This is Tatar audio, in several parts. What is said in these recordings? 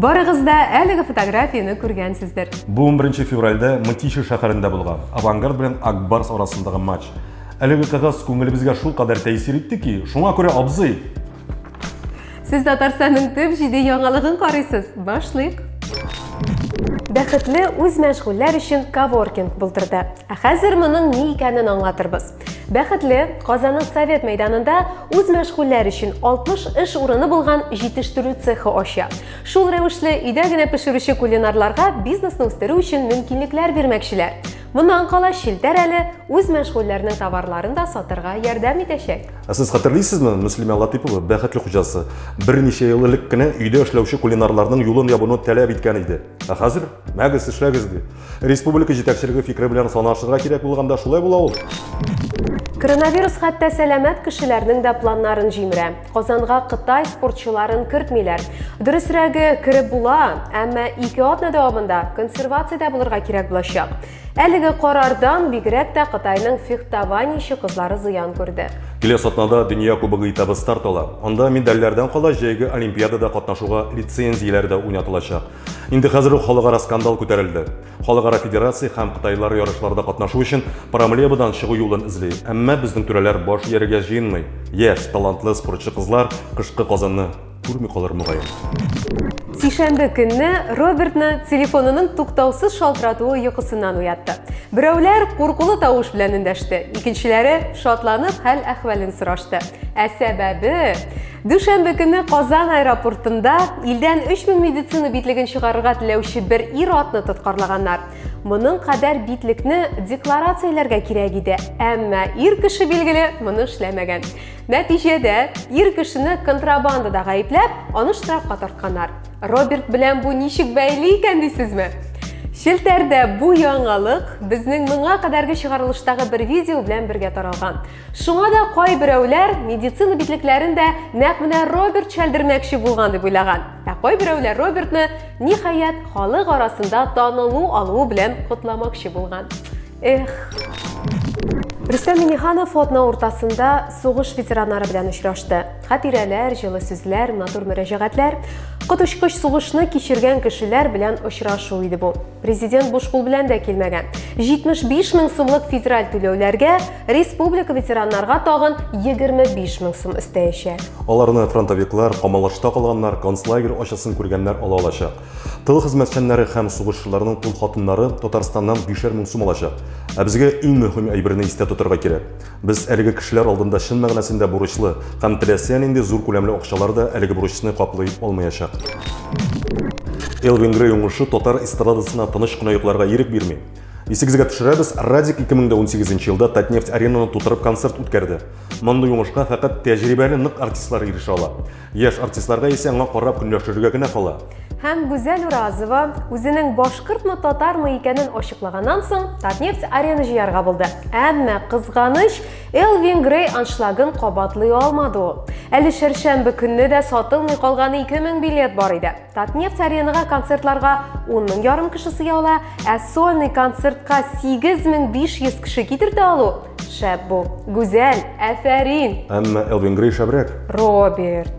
Барыгыз да әлеге фотографияне күргәнсездер. Бу 11 февральдә Мытиша шәһәрендә булган Авангард белән Акбарс арасындагы матч. Әлеге кызгыз күңелебезгә шул кадәр тәэсир итте ки, шуңа күрә абзый. Сез Татарстанның төп җиде яңалыгын карыйсыз. Башлыйк. Бәхетле үз мәшгульләр өчен коворкинг булдырды. Ә хәзер моның ни икәнен аңлатырбыз. Бәхетле Казанның Совет мәйданында үз мәшгульләр өчен 60 эш урыны булган җитештерү цехы ача. Шул рәвешле өйдә генә пешерүче кулинарларга бизнесны үстерү өчен мөмкинлекләр бирмәкчеләр. Моннан кала челтәр әле үз мәшгульләренең товарларын да сатырга ярдәм итәчәк. Ә сез хәтерлисезме, Мөслимә Латыйпова, бәхетле хуҗасы, берничә ел элек кенә өйдә эшләүче кулинарларның юлын ябуны таләп иткән иде. Ә хәзер, мәгез, эшләгез, ди. Республика җитәкчелеге фикере белән санашырга кирәк булганда шулай була ул. Коронавирус хәтта сәламәт кешеләрнең дә планнарын җимерә. Казанга Кытай спортчыларын кертмиләр. Дөресрәге, кереп була, әмма ике атна дәвамында консервациядә булырга кирәк булачак. Әлеге карардан бигрәк тә Кытайның фехтованиече кызлары зыян күрде. Киләсе атнада дөнья кубогы этабы старт ала. Анда медальләрдән кала җәйге олимпиадада катнашуга лицензияләр дә уйнатылачак. Инде хәзер үк халыкара скандал күтәрелде. Халыкара федерация һәм кытайлар ярышларда катнашу өчен проблемадан чыгу юлын эзли. Әмма безнең түрәләр баш ияргә җыенмый. Яшь, талантлы спортчы кызлар кышкы Казанны күрми калыр мөгаен. Сишәмбе көнне Робертны телефонының туктаусыз шалтыратуы йокысыннан уятты. Берәүләр куркулы тавыш белән эндәште, икенчеләре шатланып хәл-әхвәлен сорашты. Ә сәбәбе Дүшәмбе көне Казан аэропортында илдән 3000 медицина битлеген чыгарырга теләүче бер ир атны тоткарлаганнар. Моның кадәр битлекне декларацияләргә кирәк иде, әмма ир кеше билгеле моны эшләмәгән. Нәтиҗәдә ир кешене контрабандада гаепләп, аны штрафка тартканнар. Роберт белән бу ничек бәйле икән дисезме? Челтәрдә бу яңалык безнең моңа кадәрге чыгарылыштагы бер видео белән бергә таралган. Шуңа да кайберәүләр медицина битлекләрен дә нәкъ менә Роберт чәлдермәкче булган дип уйлаган. Ә кайберәүләр Робертны ниһаять халык арасында танылу алуы белән котламакчы булган. Эх. Рөстәм Миниханов фотна уртасында сугыш ветераннары белән очрашты. Хатирәләр, җылы сүзләр, матур мөрәҗәгатьләр, коточкыч сугышны кичергән кешеләр белән очрашу иде бу. Президент буш кул белән дә килмәгән. 75 мең сумлык федераль түләүләргә Республика ветераннарга тагын 25 мең сум өстәячәк. Аларны фронтовиклар, камалашта калганнар, концлагерь ачысын күргәннәр ала алачак. Тыл хезмәтчәннәре һәм сугышчыларның тол хатыннары Татарстаннан бишәр мең сум алачак. Ә безгә иң мөһим әйберне истә тотарга кирәк. Без әлеге кешеләр алдында чын мәгънәсендә бурычлы һәм теләсә нинди зур күләмле акчалар да әлеге бурычны каплый алмаячак. Элвин Грей уңышы татар эстрадасына тыныч кына йокларга ирек бирми. Исегезгә төшерәбез, Радик 2018 елда Татнефть аренаны тутырып концерт үткәрде. Мондый уңышка фәкать тәҗрибәле нык артистлар ирешә ала. Яшь артистларга исә аңа карап көнләшергә генә кала. Һәм Гүзәл Уразова үзенең башкортмы, татармы икәнен ачыклаганнан соң, Татнефть арена җыярга булды. Әмма кызганыч, Элвин Грей аншлагын кабатлый алмады ул. Әле чәршәмбе көнне дә сатылмый калган 2000 билет бар иде. Татнефть аренага концертларга 10 мең ярым кеше сыя ала, ә сольный концертка 8500 кеше китертә алу шәп бу. Гүзәл, әфәрин. Әмма Элвин Грей шәбрәк. Роберт.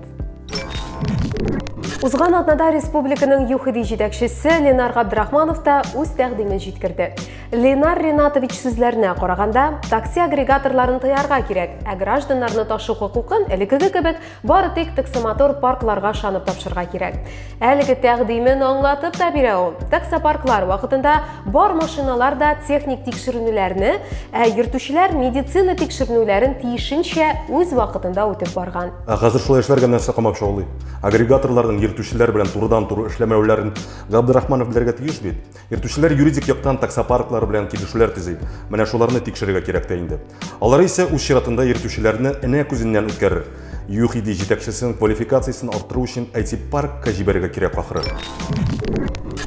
Узган атнада республиканың ЮХИДИ җитәкчесе Ленар Габдрахманов та үз тәкъдимен җиткерде. Ленар Ренатович сүзләренә караганда, такси агрегаторларын тыярга кирәк, ә гражданнарны ташу хокукын элекеге кебек Бары тик таксомотор паркларга шанып тапшырга кирәк. Әлеге тәкъдимен аңлатып та бирә ул. Таксопарклар вакытында бар машиналар да техник тикшеренүләрне, ә йөртүчеләр медицина тикшеренүләрен тиешенчә үз вакытында үтеп барган. Ә хәзер шулай эшләргә нәрсә камап шаулый? Агрегаторларның йөртүчеләр белән турыдан-туры эшләмәүләрен Габдрахманов белергә тиеш бит. Йөртүчеләр юридик яктан таксопарклар белән килешүләр төзи. Менә шуларны тикшерергә кирәк тә инде. Алар исә үз чиратында йөртүчеләрне энә күзеннән үткәрер. ЮХИДИ җитәкчесен квалификациясен арттыру өчен IT-паркка җибәрергә кирәк ахры.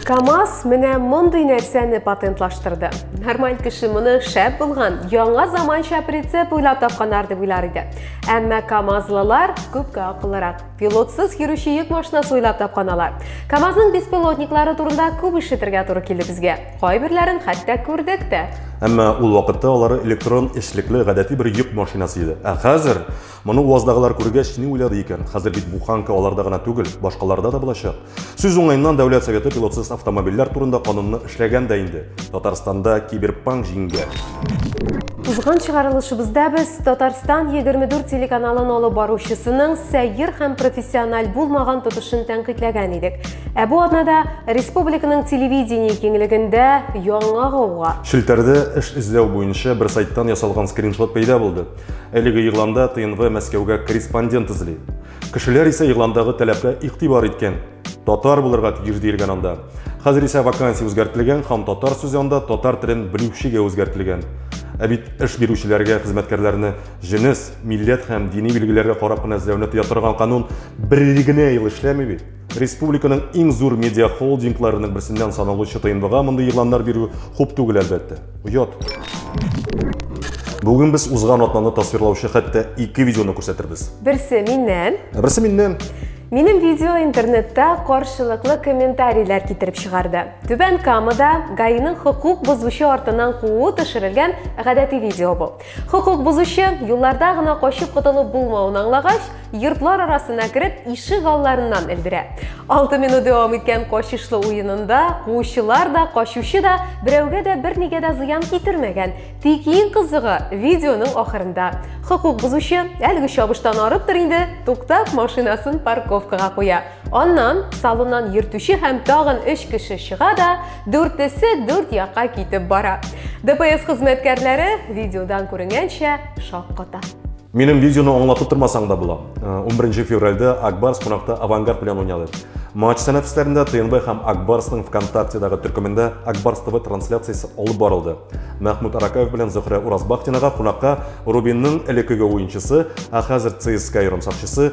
КАМАЗ менә мондый нәрсәне патентлаштырды. Нормаль кеше моны шәп булган, яңа заманча прицеп уйлап тапканнар дип уйлар иде. Әмма КАМАЗлылар күпкә акыллырак. Пилотсыз йөрүче йөк машинасы уйлап тапкан алар. КАМАЗның беспилотниклары турында күп ишетергә туры килде безгә. Кайберләрен хәтта күрдек тә. Әмма ул вакытта алары электрон эшлекле гадәти бер йөк машинасы иде. Ә хәзер моны УАЗдагылар күргәч, ни уйлады икән? Хәзер бит буханка аларда гына түгел, башкаларда да булачак. Сүз уңаеннан Дәүләт Советы пилотсыз автомобильләр турында канунны эшләгән дә инде. Татарстанда киберпанк җиңгән. Узган чыгарылышыбызда без Татарстан 24 телеканалын алып баручысының сәер һәм профессиональ булмаган тотышын тәнкыйтьләгән идек. Ә бу атнада республиканың телевидение киңлегендә яңа гауга. Челтәрдә эш эзләү буенча бер сайттан ясалган скриншот пәйда булды. Әлеге игъланда ТНВ Мәскәүгә корреспондент эзли. Кешеләр исә игъландагы таләпкә игътибар иткән. Татар булырга тиеш диелгән анда. Хәзер исә вакансия үзгәртелгән һәм татар сүзе анда татар телен белүчегә үзгәртелгән. Ә бит эш бирүчеләргә хезмәткәрләрне җенес, милләт һәм дини билгеләргә карап кына эзләүне тыя торган канун бер ел генә ел эшләми бит. Республиканың иң зур медиа холдингларының берсеннән саналучы ТНВга мондый игъланнар бирү хуп түгел әлбәттә. Оят. Бүген без узган атнаны тасвирлаучы хәтта ике видеоны күрсәтербез. Берсе миннән. Ә берсе миннән. Минем видео интернетта каршылыклы комментарийлар китереп чыгарды. Түбән Камада гаиның хокук бозучы артыннан куу төшерелгән гадәти видео бу. Хокук бозучы, юлларда гына качып котылып булмавын аңлагач, йортлар арасына кереп, ишек алларыннан элдерә. 6 минут дәвам иткән качышлы уенында куучылар да, качучы да берәүгә дә бернигә дә зыян китермәгән. Тик иң кызыгы видеоның ахырында. Хокук бозучы әлеге чабыштан арыптыр инде, туктап машинасын парковкага куя. Аннан салоннан йөртүче һәм тагын өч кеше чыга да, дүртесе дүрт якка китеп бара. ДПС хезмәткәрләре видеодан күренгәнчә шакката. Минем видеоны аңлатып тормасаң да була. 11 э, февральдә Акбарс кунакта Авангард белән уйнады. Матч сәнәфесләрендә ТНБ һәм Акбарсның ВКонтактедагы төркемендә Акбарс ТВ трансляциясе алып барылды. Мәхмүт Аракаев белән Зөхрә Уразбахтинага кунакка Рубинның элекеге уенчысы, ә хәзер ЦСКА ярымсакчысы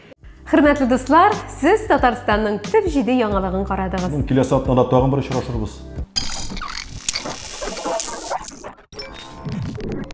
Хөрмәтле дуслар, сез Татарстанның төп җиде яңалыгын карадыгыз. Киләсе атнада тагын бер очрашырбыз.